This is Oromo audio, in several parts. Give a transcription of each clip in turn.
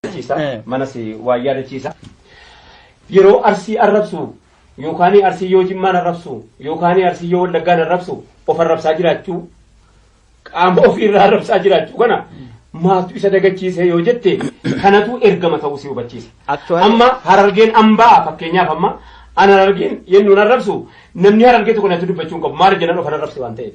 yaadachiisa. Eh. Manas waan yaadachiisa. Yeroo arsii arrabsu yookaan arsii yoo jimmaan arrabsu yookaan arsii yoo wallaggaan arrabsu of arrabsaa jiraachuu qaama ofiirraa arrabsaa jiraachuu kana maaltu isa dagachiise yoo jette kanatu ergama ta'uu si hubachiisa. Actually- Amma harargeen ambaa fakkeenyaaf amma an harargeen yennuun arrabsu namni harargee tokko natti dubbachuu hin qabu maal jedhan of arrabse waan ta'eef.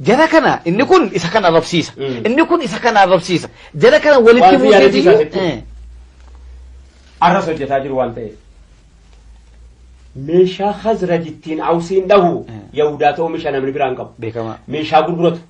Jara kana inni kun isa kana arrabsiisa. Mm. Inni kun isa kana arrabsiisa. Jara kana walitti Waan fi yaadachuu buuseeti. isaatitti. Eh. Arras hojjetaa jiru waan ta'eef. Meeshaa Khazraj ittiin Awsiin dhahu Mm. Yahudaatu oomisha namni biraa hin qabu. Beekamaa. Meeshaa gurguratu.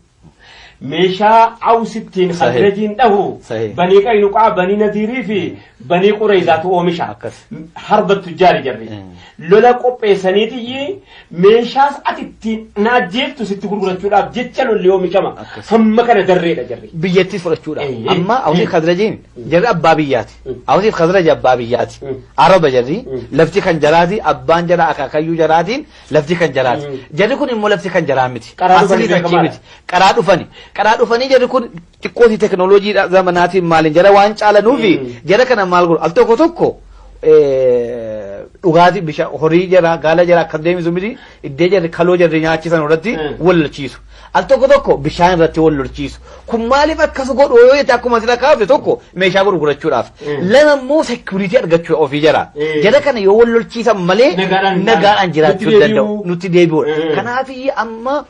Meeshaa Aws ittiin Sahih. Khazrajiin dhahu Sahih. banii Qaynuqaa, banii Nadiirii fi banii Qureeyzaatu oomisha. Akkas. Harba tujjaari jarri. Mm. Lola qopheessaniitiyyi meeshaas ati ittiin na ajjeeftu sitti gurgurachuudhaaf jecha lolli oomishama. Hamma kana darreedha jarri. biyyattiis fudhachuudha. Eeyyee. Amma Awusiif Mm. Khazrajiin Mm. jarri abbaa biyyaati. Mm. Awusiif Khazraj abbaa biyyaati. Mm. Araba jarri Mm. lafti kan jaraati abbaan jara akaakayyuu jaraatiin lafti kan jaraati. Mm. Jarri kun immoo lafti kan jaraa miti. Qaraa dhufanii Asliin achii beekamaadha. miti. Qaraa dhufani. Qaraa dhufanii jarri kun xiqqooti teknolojii zamanaatiin maaliin jara waan caalanuufi jara kana maal godhu al tokko tokko dhugaatii bishaan horii jara gaala jara akkas deemisu miti iddee jarri kaloo jarri nyaachisan irratti wal lolchiisu al tokko tokko bishaan irratti wal lolchiisu kun maaliif akkas godhu yoo jette akkuma sila kaafte tokko meeshaa gurgurachuudhaaf lama immoo sekuriitii argachuu ofii jara jara kana yoo wal lolchiisan malee nagaadhaan jiraachuu danda'u nutti deebi'uudha kanaaf amma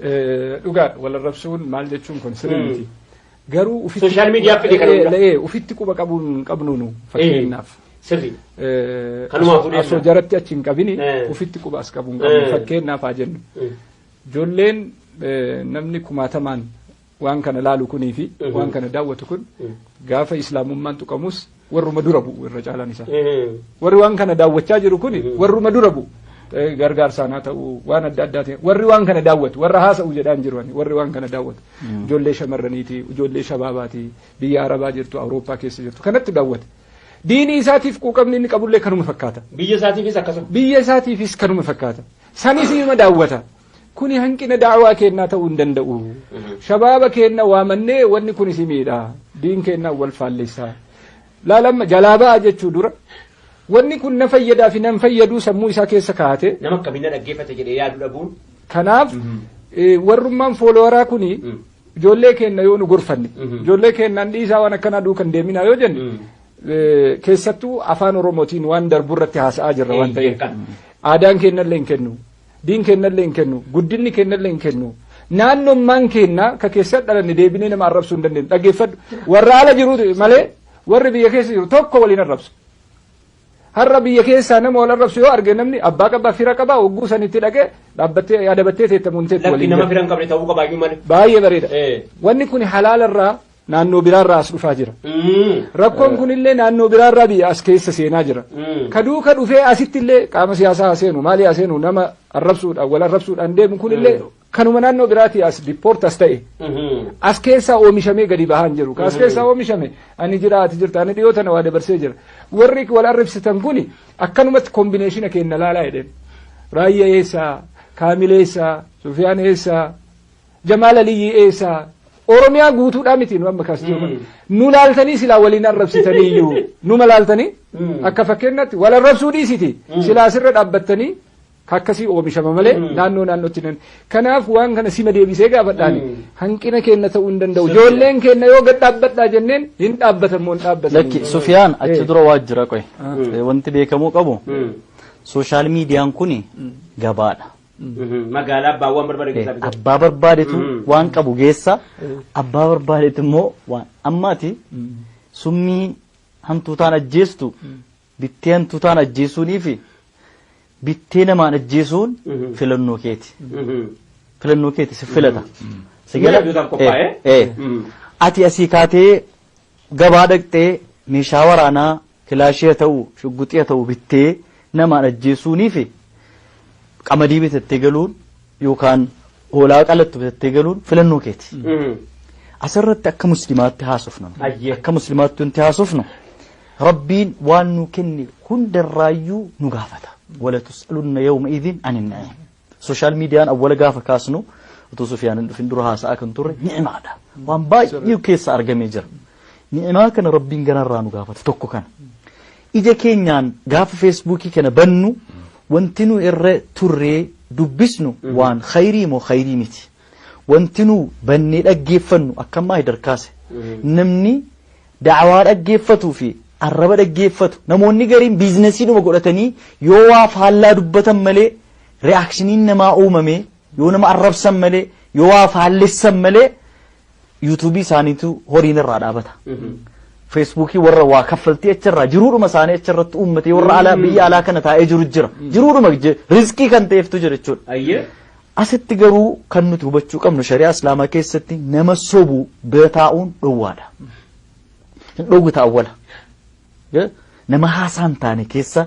Eh, Dhugaadha wal arrabsuun maal jechuun kun sirrii miti. Garuu ufitti Social media fide kana hunda. Eh, eh, ufitti quba qabuun qabnu nu fakkeenyaaf. Sirri. Eh, Kanumaa asoo- fuudhee asoo jira. jaratti achi hin qabini Eh. ufitti quba as qabuun qabnu Eh. fakkeenyaaf haa jennu. Ijoolleen eh, namni kumaatamaan Waan kana laalu kunii fi waan kana daawwatu kun gaafa islaamummaan tuqamus warruma dura bu'u irra caalaan isaa. Warri waan kana daawwachaa jiru kun warruma dura bu'u. Gargaarsaan haa ta'u waan adda addaatiin warri waan kana daawwatu warra haasa'u jedhaan jiru warri waan kana daawwatu ijoollee shamarraniiti ijoollee shabaabaati biyya arabaa jirtu awurooppaa keessa jirtu kanatti daawwata. Diinii isaatiif quuqamni inni qabullee kanuma fakkaata. Biyya isaatiifis akkasuma. Biyya isaatiifis kanuma fakkaata. Sanis ima daawwata. Kuni hanqina da'awaa keennaa ta'uu hin danda'u. Shabaaba keenna waamannee wanni kun isin miidha. Diin keennaa wal faallessaa. Laalamma jalaa ba'a jechuu dura wanni kun na fayyadaa fi nan fayyaduu sammuu isaa keessa kaa'ate. Nama akkamiin na dhaggeeffata jedhee yaadu dhabuun. Kanaaf warrummaan foolowaraa kuni ijoollee keenna yoo nu gorfanne ijoollee keennaan dhiisaa waan akkanaa duukan deeminaa yoo jenne keessattuu afaan oromootiin waan darbu irratti haasa'aa jirra waan ta'eef aadaan keennallee hin kennu. Diin keennallee hin kennu. Guddinni keennallee hin kennu. Naannummaan keenna ka keessa dhalanne deebinee nama arrabsuu hin dandeenyu. Dhaggeeffadhu. Warra ala jiru malee warri biyya keessa jiru tokko waliin arrabsu. Har'a biyya keessaa nama wal arrabsu yoo arge namni abbaa qabaa fira qabaa hogguu sanitti dhaqee dhaabbattee adabattee teettamuun teetti Lakki waliin nama jira. fira hin qabne ta'uu qabaayyuu malee. Baay'ee bareeda. Eh. Wanni kun halaalarraa naannoo biraarraa as dhufaa jira. Rakkoon kunillee naannoo biraarraa biyya as keessa seenaa jira. Ka duuka dhufee asittillee qaama siyaasaa haa seenu maalii haa seenu nama arrabsuudhaan wal arrabsuudhaan deemu kunillee kanuma naannoo biraatii as dippoort as ta'e as keessaa oomishamee gadi bahaan jiru. Ka as keessaa oomishame ani jira ati jirta ani dhiyoo tana waa dabarsee jira. Warri wal arrabsitan kuni akkanumatti kombineeshina kenna laalaa jedheen. Raayyaa eessaa? Kaamil eessaa? Sufiyaan eessaa? Jamaal Aliyyii eessaa? Oromiyaa guutuudhaa miti nu amma kaastuu kun. Nu laaltanii silaa waliin arrabsitanii iyyuu. Numa laaltanii akka fakkeenyaatti wal arrabsuu dhiisiti. Silaa asirra dhaabbattanii akkasii oomishama malee naannoo naannootti nan. Kanaaf waan kana sima deebisee gaafadhaan hanqina keenya ta'uu hin danda'u. Ijoolleen keenya yoo gad dhaabbadhaa jenneen hin dhaabbatan moo hin dhaabbatan. Lakki Sufiyaan achi dura waa jira qoy. Wanti beekamuu qabu sooshaal miidiyaan kun gabaadha. Magaalaa abbaa waan barbaade keessaa bitatu. Abbaa barbaadetu waan qabu geessa. Abbaa barbaadetu immoo waan ammaati summii hantuutaan ajjeestu bittee hantuutaan ajjeesuunii fi bittee namaan ajjeesuun filannoo keeti. Filannoo keeti si filata. Si gala. Ati asii kaatee Gabaa dhaqxee meeshaa waraanaa kilaashii haa ta'u shugguxii haa ta'u bittee namaan ajjeessuuniifi qamadii bitattee galuun yookaan hoolaa qalattu bitattee galuun filannoo keeti. Asirratti akka muslimaatti haasofna. Ayyee. Akka muslimaatti wanti haasofnu rabbiin waan nu kenne hundarraayyuu nu gaafata. Wala tus'alunna yawma idhin anin na'im. Sooshaal miidiyaan awwala gaafa kaasnu utuu Sufiyaan hin dhufin dura haasa'aa kan turre ni'imaadha. Waan baay'ee keessa argamee jira. Ni'imaa kana rabbiin ganarraa nu gaafate tokko kana. Ija keenyaan gaafa feesbuukii kana bannu wanti nu irra turree dubbisnu waan khayrii moo khayrii miti. Wanti nu bannee dhaggeeffannu akkammaa hidarkaase. Namni da'awaa dhaggeeffatuu fi arraba dhaggeeffatu namoonni gariin biizinasiidhuma godhatanii yoo waa faallaa dubbatan malee reaakshiniin namaa uumamee yoo nama arrabsan malee yoo waa faallessan malee yuutuubii isaaniitu horiin irraa dhaabata. Feesbuukii warra waa kaffaltii achirraa jiruudhuma isaanii achirratti uummatee warra alaa biyya alaa kana taa'ee jiru jira. Jiruudhuma je- riskii kan ta'eeftu jira jechuudha. Ayyee. Asitti garuu kan nuti hubachuu qabnu shari'aa islaamaa keessatti nama sobu bira taa'uun dhowwaadha. Hin dhowwita awwala. Nama haasaa hin taane keessa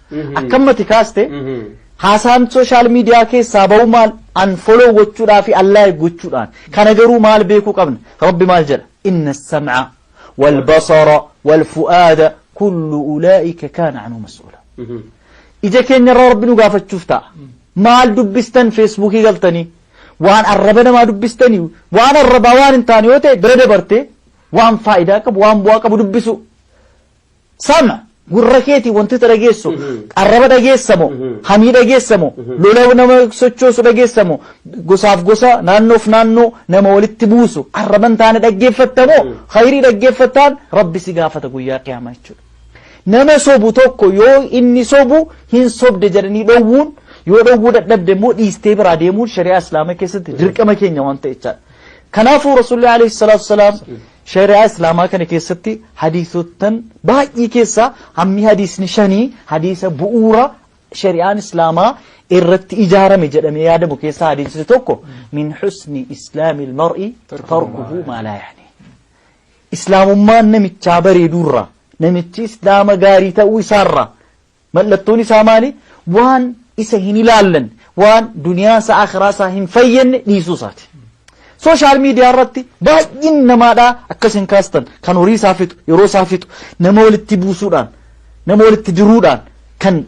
Akkammati kaaste haasaan sooshaal miidiyaa keessaa ba'u maal unfollow gochuudhaa fi unlike gochuudhaan kana garuu maal beekuu qabna rabbi maal jedha inna sam'a wal basara wal fu'aada kullu ulaa'ika kaana anuu mas'uula ija keenya irraa rabbi nu gaafachuuf ta'a maal dubbistan feesbuukii galtanii waan arraba namaa dubbistanii waan arrabaa waan hin taane yoo ta'e bira dabartee waan faayidaa qabu waan bu'aa qabu dubbisuu Sama! Gurra keetiin wanti ati dhageessu, arraba dhageessa moo, hamii dhageessa moo, lola nama sochoosu dhageessa moo, gosaaf gosa, naannoof naannoo nama walitti buusu arraba hin taane dhaggeeffatta moo, khayrii dhaggeeffattaan Rabbi si gaafata guyyaa qiyaamaa jechuudha. Nama sobu tokko yoo inni sobu hin sobde jedhanii dhowwuun yoo dhowwuu dadhabde immoo dhiistee biraa deemuun shari'aa islaamaa keessatti dirqama keenya waan ta'e jechaadha. Kanaafuu Rasuulli alayhi salaatu wasalaam Shari'aa Islaamaa kana keessatti hadiisottan baay'ee keessaa hammi hadiisni shanii hadiisa bu'uura shari'aan Islaamaa irratti ijaarame jedhamee yaadamu keessaa hadiisni tokko min husni islaamil mar'i tarkuhu maa laa yaanii. Islaamummaan namichaa bareeduurraa namichi islaama gaarii ta'uu isaarraa Mallattoon isaa maali? Waan isa hin ilaallanne, waan duniyaa isaa akhiraa isaa hin fayyadne dhiisuu isaati. Sooshaal miidiyaa irratti baay'een namaadhaa akkas hin kaastan kan horii isaa fixu, yeroo isaa fixu, nama walitti buusuudhaan, nama walitti diruudhaan kan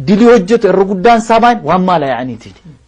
dilii hojjetu irra guddaan isaa maali? Waan maala yaa'aniitiini.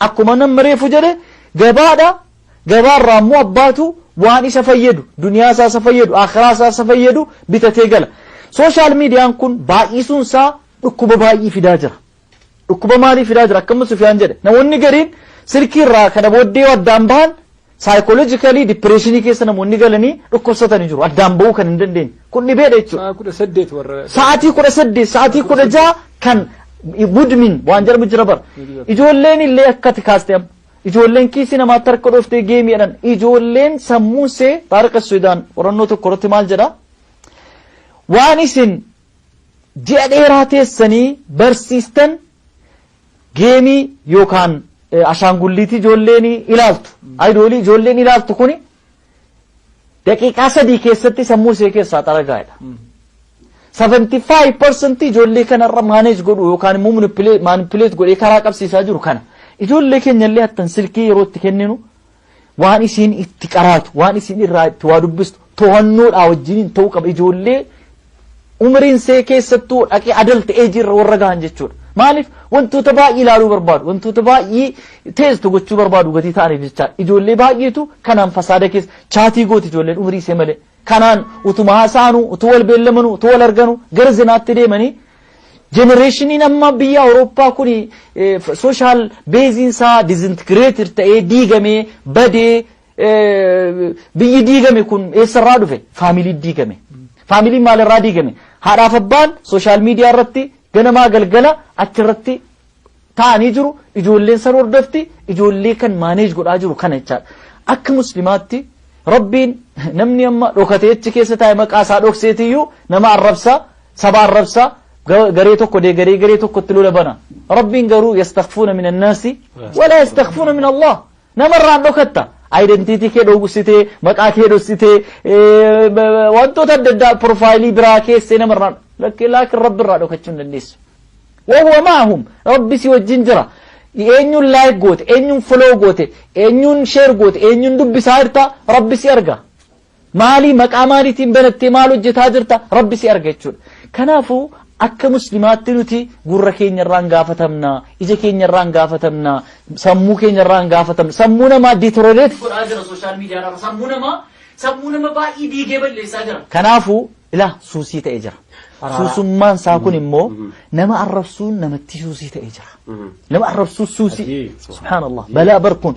Akkuma namni reefu jedhe gabaadha. Gabaarraa immoo abbaatu waan isa fayyadu, duniyaa isaa isa fayyadu, akhiraa isaa isa fayyadu bitatee gala. Sooshaal miidiyaan kun baay'isuun isaa dhukkuba baay'ee fidaa jira. Dhukkuba maalii fidaa jira? Akkamitti Sufiyaan jedhe. Namoonni gariin silkii irraa kana booddee yoo addaan bahan Psychologically depression keessa namoonni galanii dhukkubsatani jiru. Addaan ba'uu kan hin dandeenye. Kun dhibeedha jechuudha. Sa'a kudha saddeet warra. Sa'aatii kudha saddeet, sa'aatii kudha jaha kan mudmin waan jedhamu jira bara. Ijoolleen illee akkati kaaste amma. Ijoolleen kiisii namaatti harka dhooftee geemii jedhan. Ijoolleen sammuun see taariqa Sudaan qorannoo tokko irratti maal jedha? Waan isin ji'a dheeraa teessanii barsiistan Geemii yookaan ashaangulliitii ijoolleen ilaaltu, ayidoolii ijoolleen ilaaltu kuni daqiiqaa sadii keessatti sammuu ishee keessaa xaragaa'edha. 75% ijoollee kanarra maaneej godhu yookaan immoo manipuleet godhee karaa qabsiisaa jiru kana. Ijoollee keenyallee hattan silkii yeroo itti kenninu Waan isiin itti qaraatu, waan isiin irraa itti waa dubbistu to'annoodhaa wajjiniin ta'uu qaba. Ijoollee umriin see keessattuu dhaqee adalta eejii irra warra gahan jechuudha. Maaliif wantoota baay'ee ilaaluu barbaadu, wantoota baay'ee teestu gochuu barbaadu gatii ta'aniif jecha ijoollee baay'eetu kanaan fasaada keessa chaatii gooti ijoolleen umrii see malee. Kanaan utuma haasa'anuu, utuu wal beellamanuu, utuu wal arganuu gara zinaatti deemanii jenereeshiniin amma biyya Awurooppaa kun sooshaal beeziin isaa dizintigireetir ta'ee diigamee badee biyyi diigame kun eessarraa dhufe? Faamiliin diigame. Faamiliin maalirraa diigame? Haadhaaf abbaan sooshaal miidiyaa irratti ganamaa galgala achirratti taa'anii jiru ijoolleen san hordofti ijoollee kan maaneej godhaa jiru kana jechaadha akka muslimaatti rabbiin namni amma dhokatee achi keessa taa'e maqaa isaa dhokseetiyyuu nama arrabsa saba arrabsa ga- garee tokko dee garee garee tokkotti lola bana rabbiin garuu yastakfuuna min annaasi walaa yastakfuuna min allah Nama irraan dhokatta. Identity kee dhoksitee, maqaa kee dhoksitee, wantoota adda addaa profaayilii biraa keessee nama irraan lakkee laakiin rabbi irraa dhokachuu hin dandeessu. Wahuwa maahum rabbi si wajjin jira. Eenyuun laayik goote, eenyuun foloo goote, eenyuun sheer goote, eenyuun dubbisaa jirta rabbi si arga. Maalii maqaa maaliitiin banattee maal hojjetaa jirta rabbi si arga jechuudha. Kanaafuu akka muslimaatti nuti gurra keenya irraan gaafatamna, ija keenya irraan gaafatamna, sammuu keenya irraan gaafatamna. Sammuu namaa deterioreeti godhaa jira sooshaal miidiyaa irraa. Sammuu namaa sammuu nama baay'ee diigee balleessaa jira. Kanaafuu ilaa suusii ta'ee jira. Suusummaan isaa kun immoo nama arrabsuun namatti suusii ta'ee jira. Nama arrabsuun suusii. Subhaanallah. Balaa barkuun.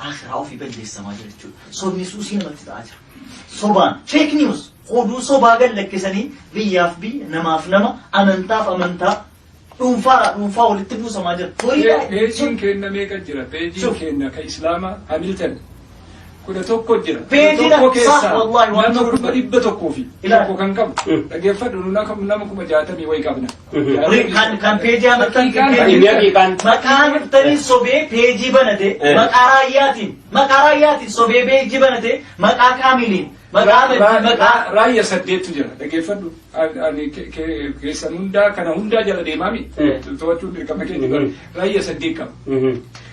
Aakhiraa ofii balleessamaa jira jechuudha. Sobni suusii namatti ta'aa jira. Sobaan, fake news, oduu sobaa gad lakkisanii biyyaaf biyya, namaaf nama, amantaaf amantaa, dhuunfaadhaa dhuunfaa walitti buusamaa jira. Horii Pe- baay'ee- Peejiin keenna meeqa jira? Peejiin Shuf. keenna ka Islaamaa Hamilton kudha tokko jira. Peejiin Kudha tokko akka- keessaa sah, wallahi, waan nama tokko- kuma dhibba tokkoo fi Ilaali. tokko kan qabu. Dhaggeeffadhu nu nama kuma jaatamii wayi qabna. Kan kan peejii amartan Inni haqiiqaan. maqaa amartanii sobee peejii banate Eh. maqaa raayyaatiin maqaa raayyaatiin sobee peejii banate maqaa kaamiliin maqaa amantii maqaa Raayya saddeettu jira dhaggeeffadhu. An- Ani ke- ke- keessan hundaa kana hundaa jala deemaami. Eh. To'achuun dirqama keenya. Mhm. Raayya saddeet qaba.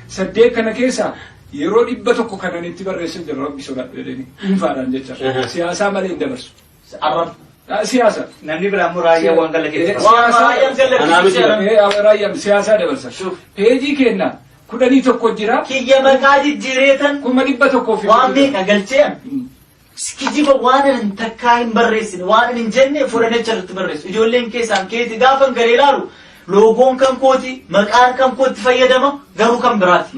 Saddeet kana keessa yeroo dhibba tokko kanan itti barreessan jira rabbi sodaadhu jedhanii dhuunfaadhaan jecha Aha. siyaasaa malee hin dabarsu. Arrab. Siyaasa. Namni biraa immoo raayyaa waan galla keessa. Raayyaan siyaasaa dabarsa. Peejii keenna kudhanii tokko jira. Kiyya maqaa jijjiireetan. Kuma dhibba tokkoo fi. Waan meeqa galchee kijiba waan hin takkaa hin barreessine waan hin jenne fudhanecha irratti barreessu. Ijoolleen keessaan keeti gaafa garee ilaalu loogoon kan kooti maqaan kan kootti fayyadama garuu kan biraati.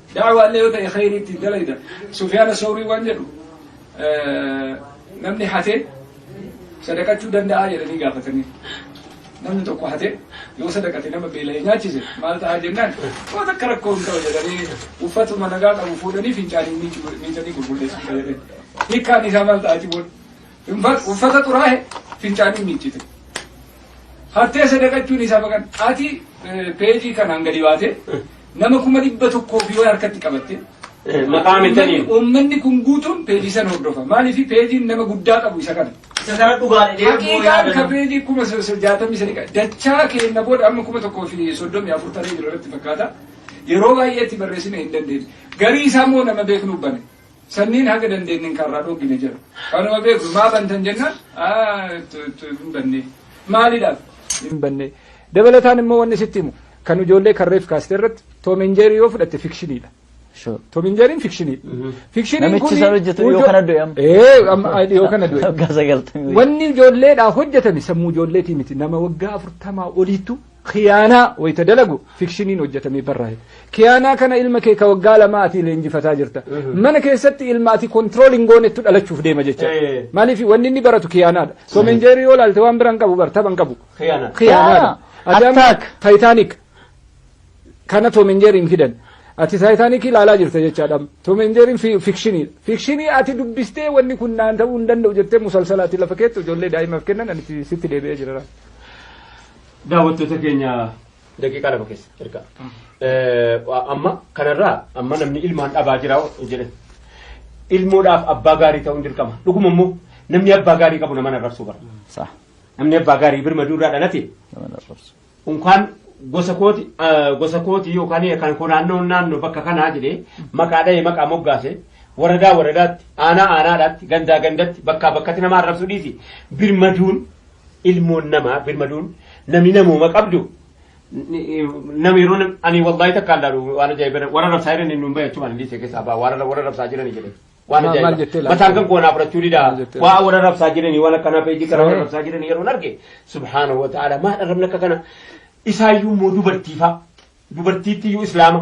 Da'waa illee yoo ta'e khayrii ittiin dalayda. Sufyaana Sawrii waan jedhu namni hate sadaqachuu danda'aa jedhanii gaafatanii. Namni tokko hate yoo sadaqate nama beela'ee nyaachise maal ta'aa jennaan waan akka rakkoo hin ta'u jedhanii uffatuma nagaa qabu fuudhanii fincaanii miicanii gurgurdeessu jedhanii. Hiikkaan isaa maal ta'aa jiruun Uffata xuraahe fincaanii miiccite. Hattee sadaqachuun isaa baqan. Ati peejii kanaan gadi baate nama kuma dhibba tokkoo fi waan harkatti qabatte. Maqaa mitanii. Uummanni kun guutuun peejii sana hordofa. Maaliif peejiin nama guddaa qabu isa kana. Isa kana dhugaadha deemuu Haqiiqaan ka peejii kuma jaatamii sadii qaba. Dachaa keenya booda amma kuma tokkoo fi soddomii afur taree jiru irratti fakkaata. Yeroo baay'eetti barreessine hin dandeenye. Garii isaa immoo nama beeknu bane. Sanniin haga dandeennen karraa dhoggine jira. Kanuma beeknu maa bantan jennaan hin banne. Maalidhaaf? Hin banne. Dabalataan immoo wanni sitti himu kan ijoollee kan reef kaaste irratti Tom and Jerry yoo fudhatte fikshiniidha. Tom and Jerry'n fikshiniidha. Fikshiniin kun Namichi sana hojjetu dhiyoo kana du'e amma. Ee amma dhiyoo kana du'e. Waggaa sagaltamii. Wanni ijoolleedhaa hojjetame sammuu ijoolleetii miti nama waggaa afurtamaa oliittu Khiyaanaa wayita dalagu fikshiniin hojjetamee barraa'e. Khiyaanaa kana ilma kee ka waggaa lamaa ati leenjifataa jirta. Mana keessatti ilma ati control hin goonettu dhalachuuf deema jecha. Eh. Maaliif wanni inni baratu khiyaanaadha. Tom and Jerry yoo laalte waan bira hin qabu bar tapha hin qabu. Khiyaana. Khiyaanaadha. Khiyaana. Ati amma Attack. Titanic kana Tom and Jerry hin fidan. Ati Titanic ilaalaa jirta jechaadha. Tom and Jerry fi- fikshiniidha. Fikshinii ati dubbistee wanni kun naan ta'uu hin danda'u jettee musalsala ati lafa keetti ijoollee daa'imaaf kennan ani itti- sitti deebi'ee jira. daawwattoota keenya daqiiqaa lama keessa erga. Amma kanarraa amma namni ilmaan dhabaa jira jedhe. Ilmoodhaaf abbaa gaarii ta'uun dirqama. Dhuguma immoo namni abbaa gaarii qabu nama narrabsuu bara. Sa'a. Namni abbaa gaarii birmaduu irraa dhalate Nama narrabsu. unkaan gosa kooti eh, gosa kooti yookaan kan koo naannoo naannoo bakka kanaa jedhee maqaa dha'ee maqaa moggaase waradaa waradaatti aanaa aanaadhaatti gandaa gandatti bakkaa bakkatti nama arrabsuu dhiisi birmaduun ilmoon namaa birmaduun namni namooma qabdu nama yeroo nam- ani wallahi takka allaalu waan ajaa'iba warra rabsaa jiran inni hin bayyachu waan illee keessaa baa warra warra rabsaa jiran jedhe waan Maal- maal jettee ajaa'iba laata? mataan kan koonaa fudhachuu didaa Maal jettee waa warra rabsaa jiranii waan akkanaa peejii kana warra Sahih. rabsaa jiranii yeroo arge subhaanahu wa ta'ala maal arrabni akka kana isaayyuu immoo dubartiifaa dubartiitti iyyuu islaama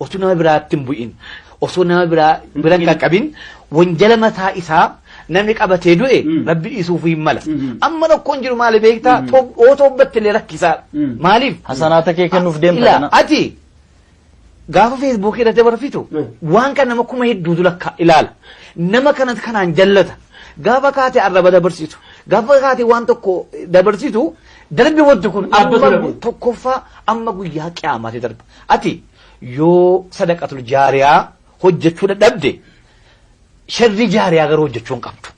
Otuu nama biraatti hin bu'in osoo nama biraa bira hin qaqqabin wanjala mataa isaa namni qabatee du'e Mm. rabbi dhiisuuf hin mala. Mhm. Amma rakkoon jiru maali beektaa? Mm. Too- Yoo toobbatte illee rakkisaa. Mm. Maaliif? Hasanaata kee kennuuf deemta Ilaa, kana. Ati gaafa feesbuukii irratti barfitu Mm. waan kan nama kuma hedduutu lakka ilaala. Nama kana kanaan jallata. Gaafa kaate arraba dabarsitu. Gaafa kaate waan tokko dabarsitu darbi wanti kun Dhaabbatu amma dhabu. tokkoffaa amma guyyaa qiyaamaati darba. Ati yoo sadaqatul jaariyaa hojjechuu dadhabde sharrii jaariyaa garuu hojjechuu hin qabdu.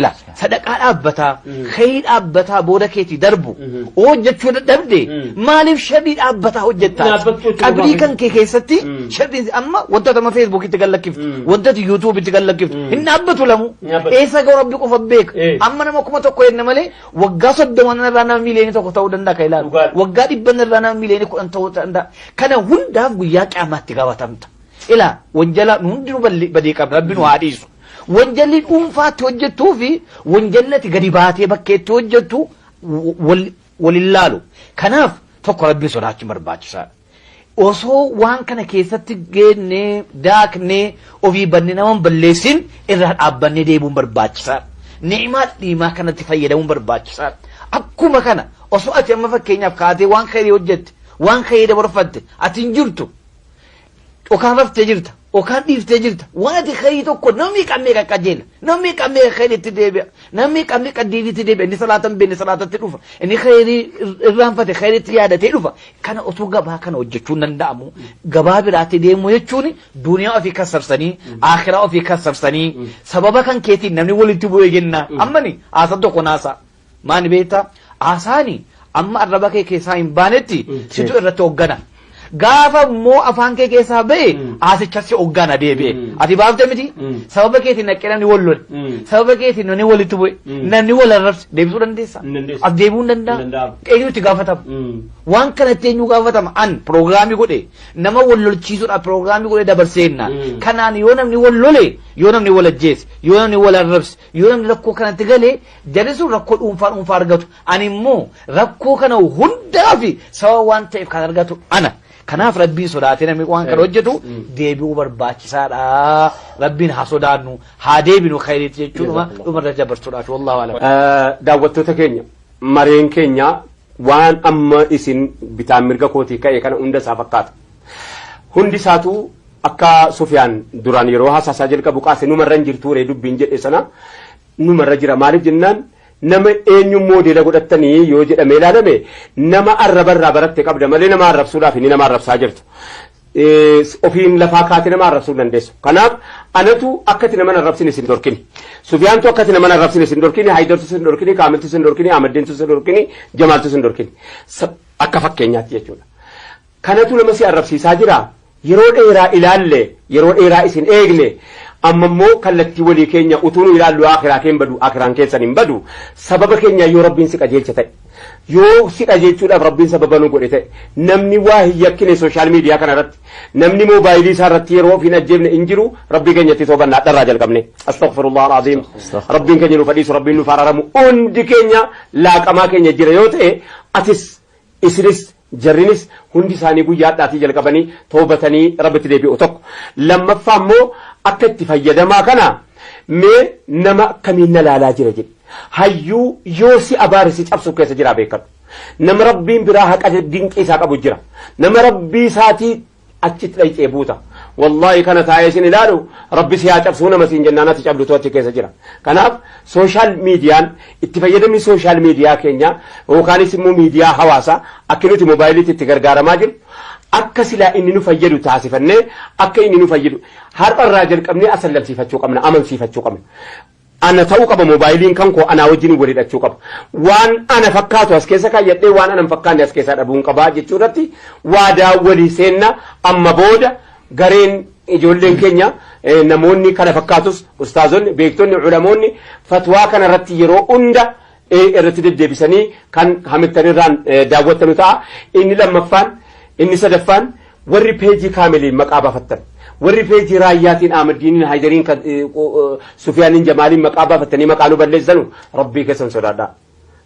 Ilaa sadaqaa dhaabbataa Mm. khayrii dhaabbataa booda keetii darbu Mhm. hojjechuu dadhabde Mm. maaliif sharrii dhaabbataa hojjettaa? Dhaabbachuu jechuun Qabrii maal? kan kee keessatti Mm. sharriin amma wantoota amma feesbuukitti kan lakkiftu Mm. wantoota yuutuubitti kan lakkiftu Mm. hin dhaabbatu lamu Hin dhaabbatu. eessa ga'u rabbi qofa beeka Eh. amma nama kuma tokko jenna malee Waggaa soddoma irraa nama miiliyoonii tokko ta'uu danda'a kan ilaalu. Dhugaadha. Waggaa dhibban irraa nama miiliyoonii kudhan ta'uu danda'a. Kana hundaaf guyyaa qiyaamaatti gaafatamta. Ilaa wanjala nu hundinuu balli- badii qabna rabbi nu haa dhiisu. Wanjalli dhuunfaatti hojjettuu fi wanjalli ati gadi baatee bakkeetti hojjettu wal- wal hin laalu. Kanaaf tokko rabbi sodaachuun barbaachisaadha. Osoo waan kana keessatti geennee daaknee ofii banne nama hin balleessin irraa dhaabbannee deebi'uun barbaachisaadha. Ni'imaa dhiimaa kanatti fayyadamuun barbaachisaadha. Akkuma kana osoo ati amma fakkeenyaaf kaatee waan khayrii hojjette waan khayrii dabarfatte ati hin jirtu dhokaafaftee jirta. Okaan dhiiftee jirta. Waan ati khayrii tokko namni qammee qaqqajeela. Namni qammee khayriitti deebi'a. Namni qammee qaddiiniitti deebi'a. Inni salaata hin beekne salaatatti dhufa. Inni khayrii irraanfate khayriitti yaadatee dhufa. Kana osoo gabaa kana hojjechuun danda'amu gabaa biraatti deemuu jechuun duniyaa ofii kassarsanii akhiraa ofii kassarsanii sababa kan keetiin namni walitti bu'ee jenna. Ammani haasa tokko naasaa. Maani beektaa? Haasaani amma arraba kee keessaa hin baanetti Mm, situ yes. irratti hoggana. Gaafa immoo afaan kee keessaa ba'e Mm. haasicha si hoggana deebi'e. Mm. Ati baafte miti? Mm. Sababa keetiin naqqee namni wal lole. Mm. Sababa keetiin namni walitti bu'e. Mm. Namni wal arrabse deebisuu dandeessa. Hin dandeessu. As deebi'uu hin Hin danda'a. danda'amu. Eenyu itti gaafatama? Mm. Waan kanatti eenyu gaafatama? An pirogiraamii godhe nama wal lolchiisuudhaaf pirogiraamii godhe dabarseenna. Mm. Kanaan yoo namni wal lole, yoo namni wal ajjeese, yoo namni wal arrabse, Yoo namni rakkoo kanatti galee jarri sun rakkoo dhuunfaa dhuunfaa argatu. Ani immoo rakkoo kana hundaa fi sababa waan ta'eef kan argatu ana. Kanaaf rabbiin sodaatee namni waan kana hojjetu deebi'uu barbaachisaadha. Rabbiin haa sodaannu haa deebinu khayriitti jechuudha dhumarra dabarsuudhaaf wallahu alam. Daawwattoota keenya mareen keenya waan amma isin bitaan mirga kootii ka'e kana hunda isaa fakkaata. Hundi isaatuu akka Sufiyaan duraan yeroo haasaasaa jalqabu kaase numarra hin jirtu ree dubbiin jedhe sana numarra jira maaliif jennaan nama eenyu moodeela godhattanii yoo jedhamee ilaalame nama arrabarraa baratte qabda malee nama arrabsuudhaaf inni nama arrabsaa jirtu. ofiin lafaa kaatee nama arrabsuu hin dandeessu. Kanaaf anatu akkati nama arrabsin isin dorkini. Sufiyaantu akkati nama arrabsin isin dorkini, Haayidartu isin dorkini, Kaamiltu isin dorkini, Ahmaddiintu isin dorkini, Jamaaltu isin dorkini. Akka fakkeenyaatti jechuudha. Kanatu nama si arrabsiisaa jiraa? Yeroo dheeraa ilaalle, yeroo dheeraa isin eegne, amma immoo kallattii walii keenya utuu nu ilaallu Aakhiraa kee hin badu, Aakhiraan keessan hin badu. Sababa keenyaan yoo Rabbiin si qajeelche ta'e, yoo si qajeelchuudhaaf Rabbiin sababa nu godhe ta'e, namni waa hin yakkine social media kana irratti, namni moobaayilii isaa irratti yeroo of hin ajjeefne hin jiru, Rabbii keenyatti toobanna hadharraa jalqabne. Astaghfirullah al-aziim. Rabbiin keenya nuuf dhiisu, Rabbiin nuuf araaramu. Hundi keenya laaqamaa keenya jira yoo ta'e, atis isinis Jarrinis hundi isaanii guyyaa hadhaatii jalqabanii tawbatanii Rabbitti deebi'u tokko. Lammaffaa immoo akka itti fayyadamaa kana mee nama akkamiin na laalaa jira jedhi. Hayyuu yoo si abaare si cabsuuf keessa jiraa beekadhu. Nama Rabbiin biraa haqa dinqii isaa qabu jira. Nama Rabbii isaatii achit dhayxee buuta wallahi kana taa'ee sin ilaalu rabbi si haa cabsuu nama siin jennaan ati cabdutu achi keessa jira kanaaf sooshaal miidiyaan itti fayyadamni sooshaal miidiyaa keenya yookaanis immoo miidiyaa hawaasaa akka nuti moobaayiliitti itti gargaaramaa jiru akka silaa inni nu fayyadu taasifannee akka inni nu fayyadu har'a irraa jalqabnee asallalsiifachuu qabna amansiifachuu qabna Ana ta'uu qaba mobaayiliin kan koo anaa wajjin wal hidhachuu qaba. Waan ana fakkaatu as keessa kaayyadhee waan ana hin fakkaanne as keessaa dhabuun qaba jechuu irratti waadaa walii seenna amma booda gareen ijoolleen keenya eh, namoonni kana fakkaatus ustaazonni beektonni culamoonni fatwaa kana irratti yeroo hunda irratti deddeebisanii kan hamittan irraan daawwattanu ta'a. Inni lammaffaan, inni sadaffaan warri peejii kaamiliin maqaa baafattan. Warri peejii raayyaatiin Ahmaddiiniin Haydariin Sufiyaaniin Jamaaliin maqaa baafattanii maqaa nu balleessanu rabbii keessan sodaadhaa.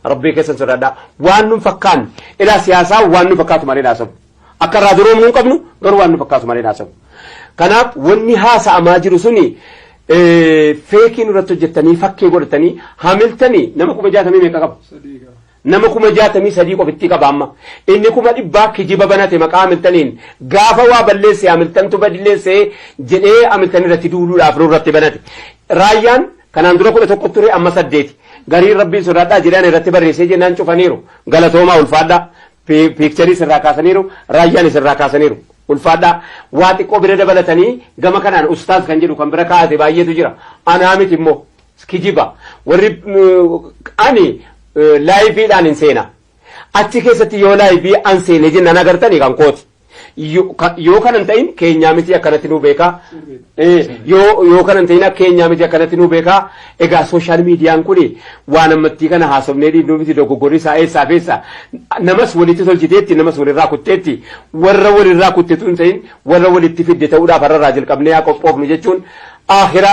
Rabbii keessan sodaadhaa. Waan nun fakkaan ilaa siyaasaa waan nu fakkaatu malee naasabu. Akka irraa duroomnu hin qabnu garuu waan nu fakkaatu malee haasa'u. Kanaaf wanni haasa'amaa jiru suni feekii nurratti hojjettanii fakkee godhatanii hamiltanii nama kuma jaatamii meeqa qaba? Nama kuma jaatamii sadii qofittii qaba amma. Inni kuma dhibbaa kijiba banate maqaa hamiltaniin gaafa waa balleesse hamiltantu balleesse jedhee hamiltan irratti duuluudhaaf nurratti banate. Raayyaan kanaan dura kudha tokko ture amma saddeeti. Gariin rabbiin sodaadhaa jedhaan irratti barreessee jennaan cufaniiru. Galatoomaa ulfaadhaa. Piikcharii sirraa kaasaniiru, Raayyaanis irraa kaasaniiru. Ulfaadhaa. Waa xiqqoo bira dabalatanii gama kanaan ustaaz kan jedhu kan bira kaa'ate baay'eetu jira. Anaa miti immoo kijiba. Warri ani laayiviidhaan hin seena. Achi keessatti yoo laayivii an seene jennaan agartanii kan kooti. Yo- ka- yoo kana hin ta'in keenyaa miti akkanatti nuu beekaa Eh, yoo yoo kana hin ta'in keenyaa miti akkanatti nuu beekaa egaa sooshaal miidiyaan kun waan ammattii kana haasofnee dhiibnuu miti dogoggorri isaa eessaa fi eessa namas walitti tolchiteetti namas walirraa kutteetti warra walirraa kuttetu hin ta'in warra walitti fidde ta'uudhaaf har'arraa jalqabnee haa qophoofnu jechuun aahira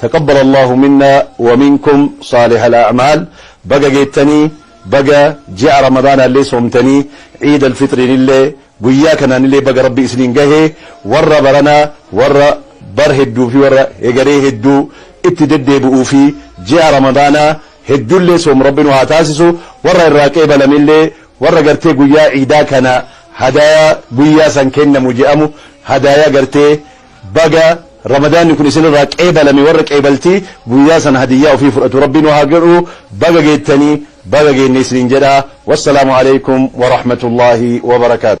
Taqabbal Allaahu minnaa wa minkum saalihal a'maal Baga geettanii Baga ji'a Ramadaanaallee soomtanii Iidal Fixriinillee guyyaa kanaanillee baga Rabbi isiniin gahe Warra barana warra bar hedduu fi warra hegaree hedduu itti deddeebi'uu fi ji'a Ramadaanaa heddullee soomu Rabbi nu haa taasisu Warra irraa qeebalamellee warra gartee guyyaa Iidaa kana hadaayaa guyyaa san kennamu je'amu hadaayaa gartee Baga ramadaanni kun isinirraa qeebalame warra qeebaltii guyyaa sana hadiyyaa ofii fudhatu rabbi nu haa godhu baga geettanii baga geenne isiniin jedha wassalaamu aleykum warahmatullaahi wabarakaatu.